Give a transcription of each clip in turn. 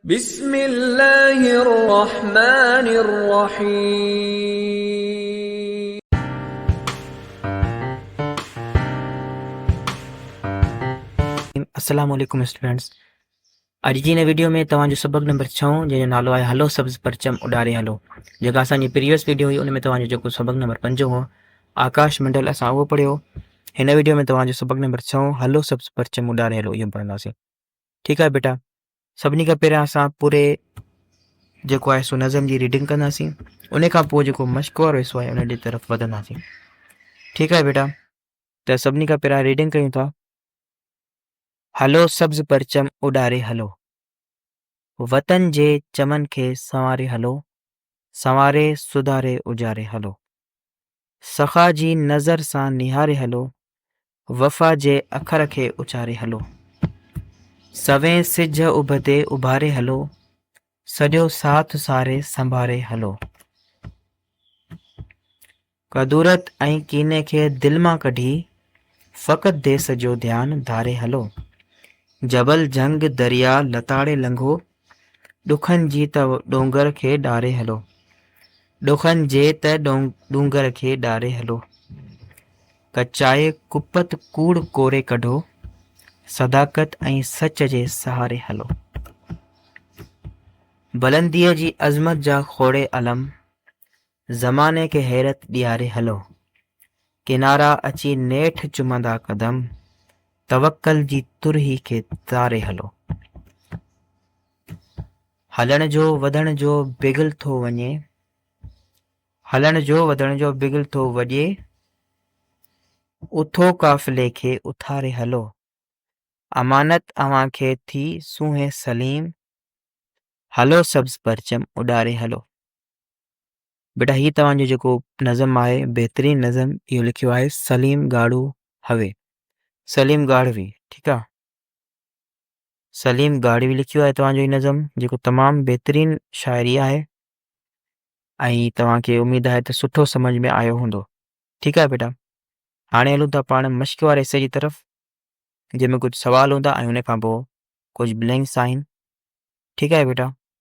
بسم الله الرحمن الرحيم. السلام عليڪم اسٽوڊنٽس اڄ جي هن ويڊيو ۾ توهان جو سبق نمبر ڇهون جنهن جو نالو آهي هلو سبز پرچم اڏاري هلو جيڪا اسان جي پريوس ويڊيو هئي ان ۾ توهان جو جيڪو سبق نمبر پنجون هو آڪاش منڊل اسان اهو پڙهيو هن ويڊيو ۾ توهان جو سبق نمبر ڇهون هلو سبز پرچم اڏاري هلو اهو پڙهنداسين ٺيڪ آهي بيٽا سڀني کان پهريان اسان پوري جيڪو آهي سو نظم جي ریڊنگ ڪنداسين ان کان پوء جيڪو مشق وارو حصو آهي ان جي طرف وڌنداسين ٺيڪ آهي بيٽا ته سڀني کان پهريان ریڊنگ ڪيون ٿا هلو سبز پرچم اڏاري هلو وطن جي چمن کي سنواري هلو سنواري سڌاري اجاري هلو سخا جي نظر سان نهاري هلو وفا جي اکر کي اچاري هلو. سوين سج اڀتي اڀاري هلو. سڄو ساٿ ساري سنڀاري هلو. ڪدورت ۽ ڪيني کي دل مان ڪڍي فقط ديس جو ڌيان ڌاري هلو. جبل جهنگ دريا لتاڙي لنگهو. ڏکن جي ته ڏونگر کي ڏاري هلو. ڏکن جي ته ڏونگر کي ڏاري هلو. ڪچائي ڪپت ڪوڙ ڪوري ڪڍو. صداقت ۽ سچ جي سهاري هلو. بلنديء جي عظمت جا کوڙي علم زماني کي حيرت ڏياري هلو. ڪنارا اچي نيٺ چمندا قدم، توڪل جي ترهي کي تاري هلو. هلڻ جو وڌڻ جو بغل ٿو وڃي، هلڻ جو وڌڻ جو بغل ٿو وڄي، اٿو قافلي کي اٿاري هلو. امانت اوهان کي ٿي سونهين سليم، هلو سبز پرچم اڏاري هلو. بيٽا هي توهان جو جيڪو نظم آهي بهترين نظم اهو لکيو آهي سليم ڳاڙهو هوي سليم ڳاڙهوي ٺيڪ آ سليم ڳاڙهوي لکيو آهي توهان جو هي نظم جيڪو تمام بهترين شاعري آهي ۽ توهان کي اميد آهي ته سٺو سمجھ ۾ آيو هوندو ٺيڪ آهي بيٽا هاڻي هلون ٿا پاڻ مشق واري حصے جي طرف جنهن ۾ ڪجھ سوال هوندا ۽ ان کان پوء ڪجھ بلينڪس آهن ٺيڪ آهي بيٽا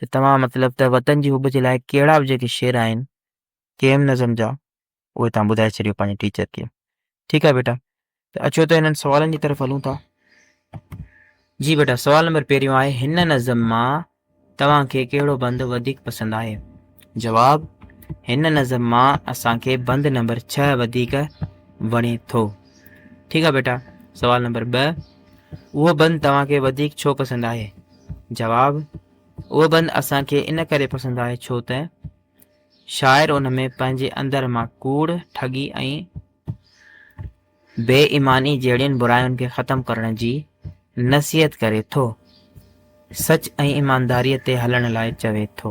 ته توهان مطلب ته وطن جي حب جي لاء ڪهڙا به جيڪي شعر آهن ڪيم نظم جا اهي توهان ٻڌائي ڇڏيو پنهنجي ٽيچر کي ٺيڪ آهي بيٽا ته اچو ته هنن سوالن جي طرف هلون ٿا جي بيٽا سوال نمبر پهريون آهي هن نظم مان توهان کي ڪهڙو بند وڌيڪ پسند آهي جواب هن نظم مان اسان کي بند نمبر ڇهه وڌيڪ وڻي ٿو ٺيڪ آهي بيٽا سوال نمبر ٻه اهو بند توهان کي وڌيڪ ڇو پسند آهي جواب، اهو بند اسان کي ان ڪري پسند آهي ڇو ته شاعر ان ۾ پنهنجي اندر مان ڪوڙ، ٺڳي ۽ بي ايماني جهڙين براين کي ختم ڪرڻ جي نصيحت ڪري ٿو. سچ ۽ ايمانداريء تي هلڻ لاء چوي ٿو.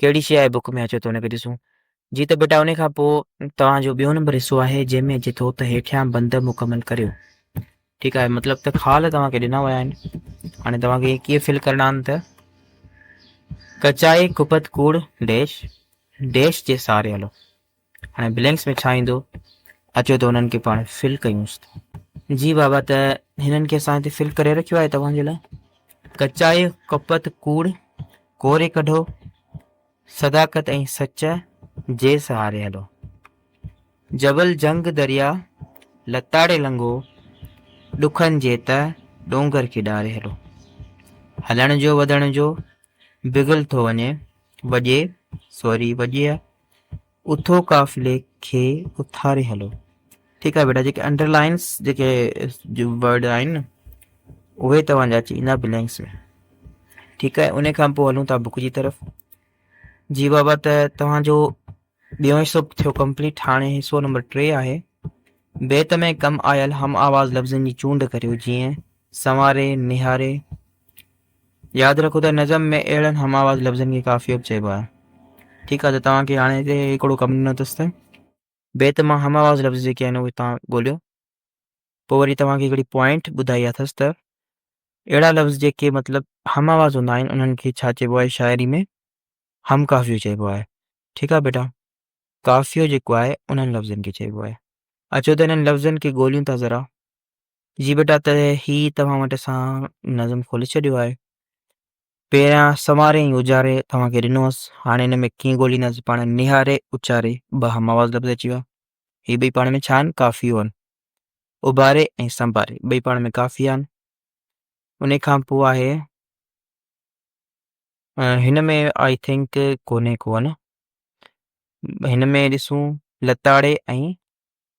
ڪهڙي شيء آهي بڪ ۾ اچو ته هن کي ڏسون جي ته بيٽا ان کان پوء توهان جو ٻيو نمبر حصو آهي جنهن ۾ اچي ٿو ته هيٺيان بند مڪمل ڪريو ٺيڪ آهي مطلب ته خال توهان کي ڏنا ويا آهن هاڻي توهان کي ڪيئن فل ڪرڻا آهن ته ڪچائي ڪپت ڪوڙ ڊيش ڊيش جي ساري هلو هاڻي بلينڪس ۾ ڇا ايندو؟ اچو ته انهن کي پاڻ فل ڪيونس ته. جي بابا ته هنن کي اسان هتي فل ڪري رکيو آهي توهان جي لاء. ڪچائي، ڪپت، ڪوڙ، ڪوري ڪڍو، صداقت ۽ سچ جي سهاري هلو. جبل جهنگ درياء لتاڙي لنگهو، ڏکن جي تهه ڏونگر کي ڏاري هلو. هلڻ جو وڌڻ جو بگل ٿو وڃي، وڄي سوري وڄي اٿو قافلي کي اٿاري هلو. ٺيڪ آهي بيٽا جيڪي انڊر لائنس جيڪي ورڊ آهن نه اهي توهان جا اچي ويندا بلينڪس ۾ ٺيڪ آهي ان کان پوء هلون ٿا بک جي طرف جي بابا ته توهان جو ٻيو حصو ٿيو ڪمپليٽ هاڻي حصو نمبر ٽي آهي بيت ۾ ڪم آيل هم آواز لفظن جي چونڊ ڪريو جيئن سنواري نهاري ياد رکو ته نظم ۾ اهڙن هم آواز لفظن کي قافيو به چئبو آهي. ٺيڪ آهي ته توهان کي هاڻي هتي هڪڙو ڪم ڏنو اٿس ته بيت مان هم آواز لفظ جيڪي آهن اهي توهان ڳوليو. پوء وري توهان کي هڪڙي پوائنٽ ٻڌائي اٿس ته اهڙا لفظ جيڪي مطلب هم آواز هوندا آهن انهن کي ڇا چئبو آهي شاعري ۾ هم قافيو چئبو آهي. ٺيڪ آهي بيٽا. قافيو جيڪو آهي انهن لفظن کي چئبو آهي. اچو ته انهن لفظن کي ڳوليون ٿا ذرا. جي بيٽا ته هي توهان وٽ اسان نظم کولي ڇڏيو آهي پهريان سنواري ۽ اجاري توهان کي ڏنو هوس هاڻي هن ۾ ڪيئن ڳولينداسي پاڻ نهاري اچاري ٻه هم آواز لفظ اچي ويا هي ٻئي پاڻ ۾ ڇا آهن ڪافيو آهن اڀاري ۽ سنڀاري ٻئي پاڻ ۾ ڪافي آهن ان کان پوء آهي هن ۾ آئي ٿنڪ ڪونهي ڪون هن ۾ ڏسون لتاڙي ۽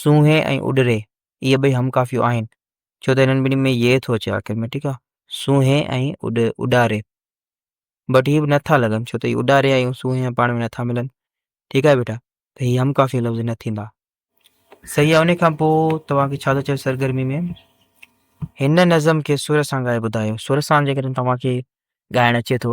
سونهي ۽ اڏري اهي ٻئي هم ڪافيون آهن، ڇو ته انهن ٻنهي ۾ يه ٿو اچي آخر ۾، ٺيڪ آ. سونهي ۽ اڏاري. بٽ هي به نه ٿا لڳن، ڇو ته هي اڏاري ۽ سونهي ۾ پاڻ ۾ نه ٿا ملن، ٺيڪ آهي بيٽا، ته هي هم ڪافيون لفظ نه ٿيندا. صحيح آ، انهي کان پوء توهان کي ڇا ٿو چوي سرگرمي ۾؟ هن نظم کي سر سان ڳائي ٻڌايو. سر سان جيڪڏهن توهان کي ڳائڻ اچي ٿو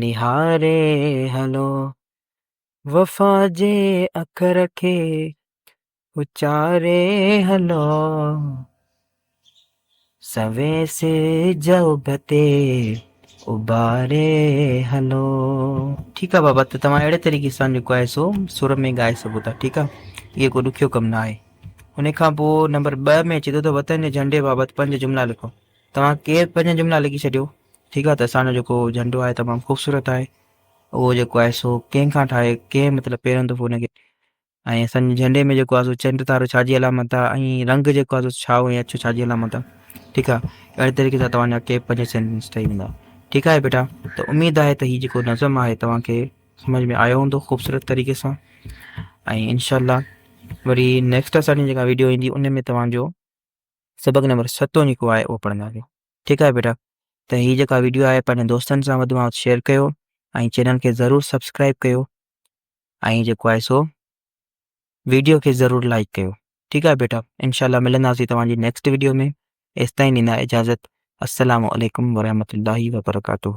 نهاري هلو، وفا جي اکر کي اچاري هلو، سوين سج اڀ تي اڀاري هلو. ٺيڪ آ بابا ته توهان اهڙي طريقي سان جيڪو آهي سو سر ۾ ڳائي سگهو ٿا ٺيڪ آ اهو ڪو ڏکيو ڪم نه آهي ان کان پوء نمبر ٻه ۾ اچي ٿو ته وطن جي جهنڊي بابت پنج جملا لکو توهان ڪير پنج جملا لکي ڇڏيو ٺيڪ آهي ته اسان جو جيڪو جهنڊو آهي تمام خوبصورت آهي اهو جيڪو آهي سو ڪنهن کان ٺاهي ڪنهن مطلب پيرن دفعو ان کي ۽ اسان جي جهنڊي ۾ جيڪو آهي سو چنڊ تارو ڇا جي علامت آهي ۽ رنگ جيڪو آهي سو سائو ۽ اڇو ڇا جي علامت آهي ٺيڪ آهي اهڙي طريقي سان توهان جا ڪيپ پنج سينٽنس ٺهي ويندا ٺيڪ آهي بيٽا ته اميد آهي ته هي جيڪو نظم آهي توهان کي سمجھ ۾ آيو هوندو خوبصورت طريقي سان ۽ انشاء الله وري نيڪسٽ اسان جي جيڪا ويڊيو ايندي ان ۾ توهان جو سبق نمبر ستون جيڪو آهي اهو پڙهنداسين ٺيڪ آهي بيٽا ته هي جيڪا ويڊيو آهي پنهنجن دوستن سان وڌ ۾ وڌ شيئر ڪيو ۽ چينل کي ضرور سبسڪرائب ڪيو ۽ جيڪو آهي سو ويڊيو کي ضرور لائڪ ڪيو ٺيڪ آهي بيٽا انشاء الله ملنداسي توهان جي نيڪسٽ ويڊيو ۾ ايس تائين ڏيندا اجازت السلام عليڪم ورحمة الله وبرڪاته